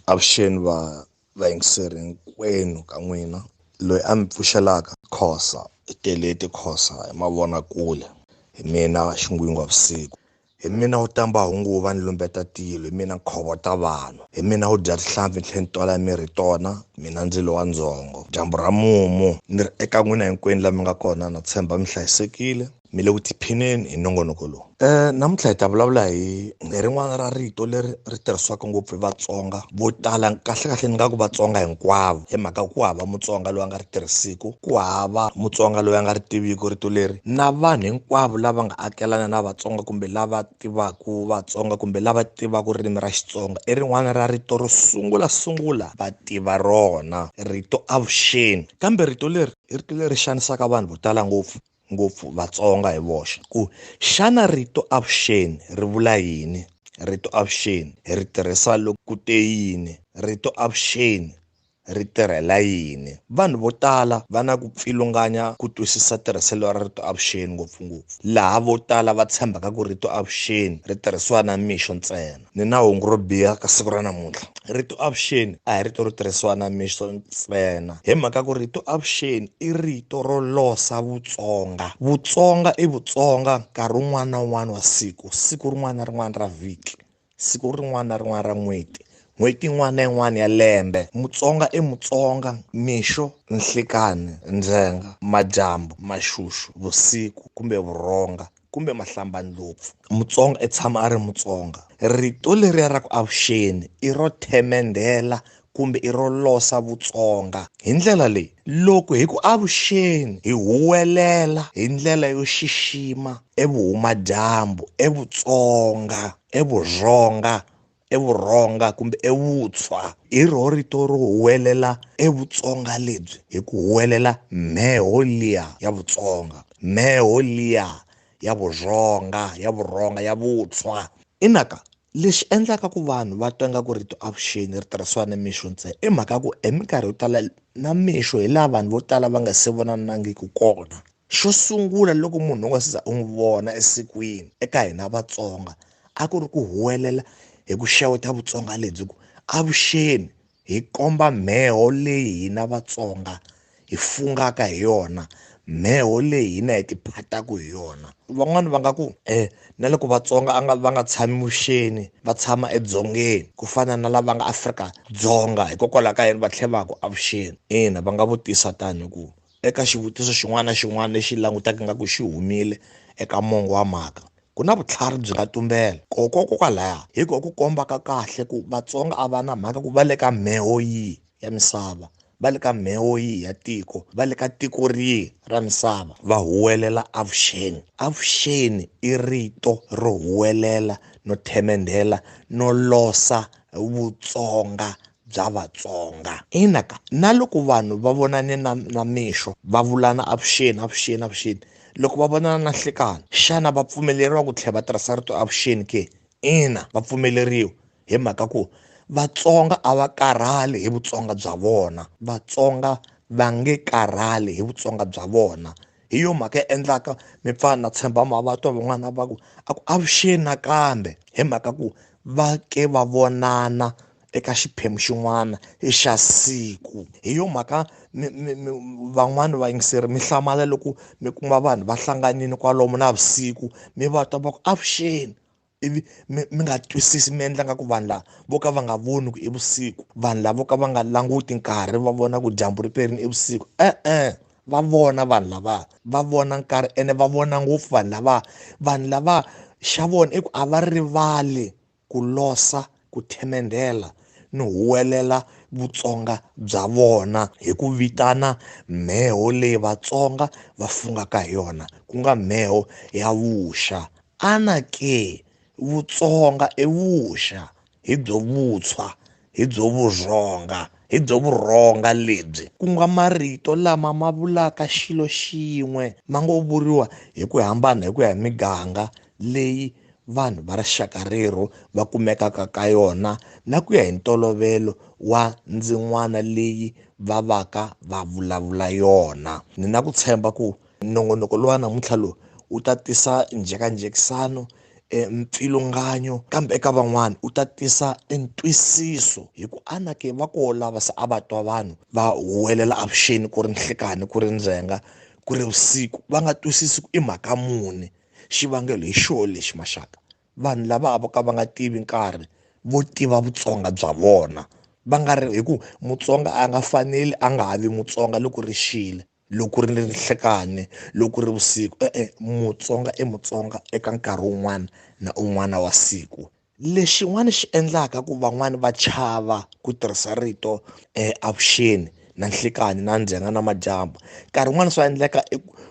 Avuxeni va vayingiseri hinkwenu ka n'wina loyi a mi pfuxelaka khosa i teleti khosa hi mavonakule hi mina xingwingwa vusiku hi mina wu tamba hunguva ni lumbeta tilo hi mina nkhovo ta vanhu hi mina wu dya tihlampfi tlhe ni twala mi ri tona mina ndzilo wa ndzhongo dyambu ra mumu ni ri eka n'wina hinkwenu la mi nga kona na tshemba mi hlayisekile mi le ku tiphineni hi nongonoko lowu um namuntlha hi ta vulavula hi hi rin'wana ra rito leri ri tirhisiwaka ngopfu hi vatsonga vo tala kahlekahle ni nga ku vatsonga hinkwavo hi mhaka ku hava mutsonga loyi a nga ri tirhisiku ku hava mutsonga loyi a nga ri tiviku rito leri na vanhu hinkwavo lava nga akelana na vatsonga kumbe lava tivaku vatsonga kumbe lava tivaku ririmi ra xitsonga i rin'wana ra rito ro sungula sungula va tiva rona rito avuxeni kambe rito leri i rito leri xanisaka vanhu vo tala ngopfu ngopfu Vatsonga hi voxe ku xana rito avuxeni ri vula yini? Rito avuxeni hi ri tirhisa loko ku te yini? Rito avuxeni ri tirhela yini? Vanhu vo tala va na ku pfilunganya ku twisisa tirhiselo ra rito avuxeni ngopfungopfu laha vo tala va tshembaka ku rito avuxeni ri tirhisiwa na mixo ntsena. ni na hungu ro biha ka siku ra namuntlha rito avuxeni a hi rito ro tirhisiwa na mixo ntsena hi mhaka ku rito avuxeni i rito ro losa vutsonga vutsonga i vutsonga nkarhi wun'wana na wun'wana wa siku siku rin'wana na rin'wana ra vhiki siku rin'wana na rin'wana ra n'hweti n'hweti yin'wana na yin'wana ya lembe mutsonga i mutsonga mixo nhlikani ndzhenga madyambu maxuxu vusiku kumbe vurhonga kumbe mahlambandlopfu. Mutsonga i tshama a ri Mutsonga. Rito leriya ra ku avuxeni i ro themendhela kumbe i ro losa Vutsonga. Hi ndlela leyi, loko hi ku avuxeni hi huwelela hi ndlela yo xixima evuhumadyambu, eVutsonga, eVurhonga evurhonga kumbe evutswa hi rho rito ro huwelela evutsonga lebyi hi ku huwelela mheho liya ya vutsonga mheho liya ya vurhonga ya vurhonga ya vutswa inaka lexi endlaka ku vanhu va twa nga ku rito avuxeni ri tirhisiwa ni mixo ntsena i mhaka ku eminkarhi yo tala na mixo hi laha vanhu vo tala va nga se vonanangiki kona xo sungula loko munhu u nga siza u n'wi vona esikwini eka hina vatsonga a ku ri ku huwelela hi ku xeweta vutsonga lebyi ku avuxeni hi komba mheho leyi hina vatsonga hi fungaka hi yona mheho leyi hina hi tiphataka hi yona van'wani va nga ku um na loko vatsonga a nga va nga tshami vuxeni va tshama edzongeni ku fana na lava nga afrika dzonga hikokwalaho ka yini va tlhe va ku avuxeni ina va nga vutisa tani ku Eka xivutiso xin'wana na xin'wana lexi langutaka ingaku xi humile eka mongo wa mhaka, ku na vutlhari byi nga tumbela. Kokwalaya hi ko ku kombaka kahle ku Vatsonga a va na mhaka ku va le ka mheho yihi ya misava, va le ka mheho yihi ya tiko, va le ka tiko rihi ra misava, va huwelela avuxeni. Avuxeni i rito ro huwelela no themendhela no losa Vutsonga bya Vatsonga. Ina ka, na loko vanhu va vonane na na mixo va vulana avuxeni avuxeni avuxeni loko va vonana na nhlekani xana va pfumeleriwa ku tlhela va tirhisa rito avuxeni ke? Ina va pfumeleriwa hi mhaka ku Vatsonga a va karhali hi Vutsonga bya vona Vatsonga va nge karhali hi Vutsonga bya vona hi yo mhaka ya endlaka mi pfa na tshemba mavatwa van'wana va ku a ku avuxeni nakambe hi mhaka ku va ke va vonana eka xiphemu xin'wana hi xa siku hi yo mhaka van'wani vayingiseri mi hlamala loko mi kuma vanhu va hlanganile kwalomu na vusiku mi va twa va ku avuxeni ivi mi mi nga twisisi mi endla nga ku vanhu lava vo ka va nga voni ku i vusiku vanhu lava vo ka va nga languti nkarhi va vona ku dyambu ri perini i vusiku e-e va vona vanhu lava va vona nkarhi ene va vona ngopfu vanhu lava vanhu lava xa vona i ku a va rivali ku losa ku themendhela no huwelela vutsonga bya vona hi ku vitana mheho leyi vatsonga va fungaka hi yona ku nga mheho ya vuxa ana ke vutsonga i vuxa hi byo vutshwa hi byo vurhonga hi byo vurhonga lebyi ku nga marito lama ma vulaka xilo xin'we ma ngo vuriwa hi ku hambana hi ku ya hi miganga leyi vanhu va rixaka rero va kumekaka ka yona na ku ya hi ntolovelo wa ndzin'wana leyi va vaka va vulavula yona ni na ku tshemba ku nongonoko lowa namuntlha lowu wu ta tisa njhekanjhekisano e mpfilunganyo kambe eka van'wana u ta tisa e ntwisiso hi ku ana ke va ko lava se a va twa vanhu va huwelela avuxeni ku ri nhlikani ku ri ndzhenga ku ri vusiku va nga twisisi ku i mhaka muni Xivangelo hi xo lexi maxaka, vanhu lava vo ka va nga tivi nkarhi vo tiva vutsonga bya vona va nga ri hi ku mutsonga a nga faneli a nga ha vi mutsonga loko ri xile loko ri ni nhlikani loko ri vusiku e-e mutsonga i mutsonga eka nkarhi wun'wana na un'wana wa siku Lexin'wana xi endlaka ku van'wani va chava ku tirhisa rito avuxeni na nhlikanhi na ndzhenga na madyambu nkarhi wun'wani swa endleka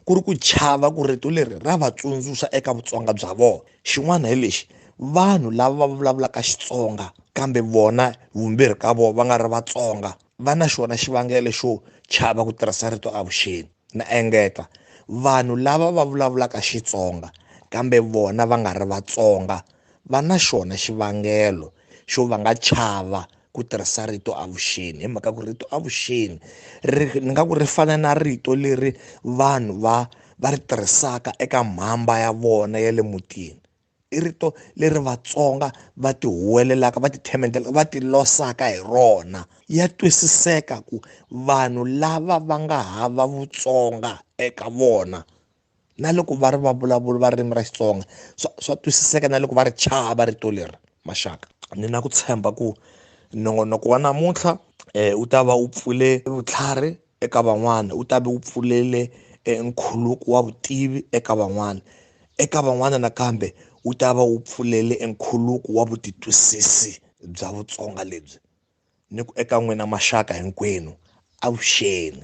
ku ri ku chava ku rito leri ra va tsundzuxa eka vutsonga bya vona xin'wana hi lexi vanhu lava va vulavulaka Xitsonga kambe vona vumbirhi ka vona va nga ri Vatsonga. va na xona xivangelo xo chava ku tirhisa rito avuxeni na engeta vanhu lava va vulavulaka xitsonga kambe vona va nga ri vatsonga va na xona xivangelo xo va nga chava ku tirhisa rito avuxeni hi mhaka ku rito avuxeni ri ni nga ku ri fana na rito leri vanhu va va ri tirhisaka eka mhamba ya vona ya le mutini i rito leri vatsonga va ti huwelelaka va ti themendelaka va ti losaka hi rona ya twisiseka ku vanhu lava va nga hava vutsonga eka vona na loko va ri va vulavula va ririmi ra xitsonga swa swa twisiseka na loko va ri chava rito leri maxaka ni na ku tshemba ku nongonoko wa namuntlha um wu ta va wu pfule vutlhari eka van'wana wu ta ve wu pfulele e nkhuluko wa vutivi eka van'wana eka van'wana nakambe wu ta va wu pfulele e nkhuluko wa vutitwisisi bya vutsonga lebyi ni ku eka n'wina maxaka hinkwenu avuxeni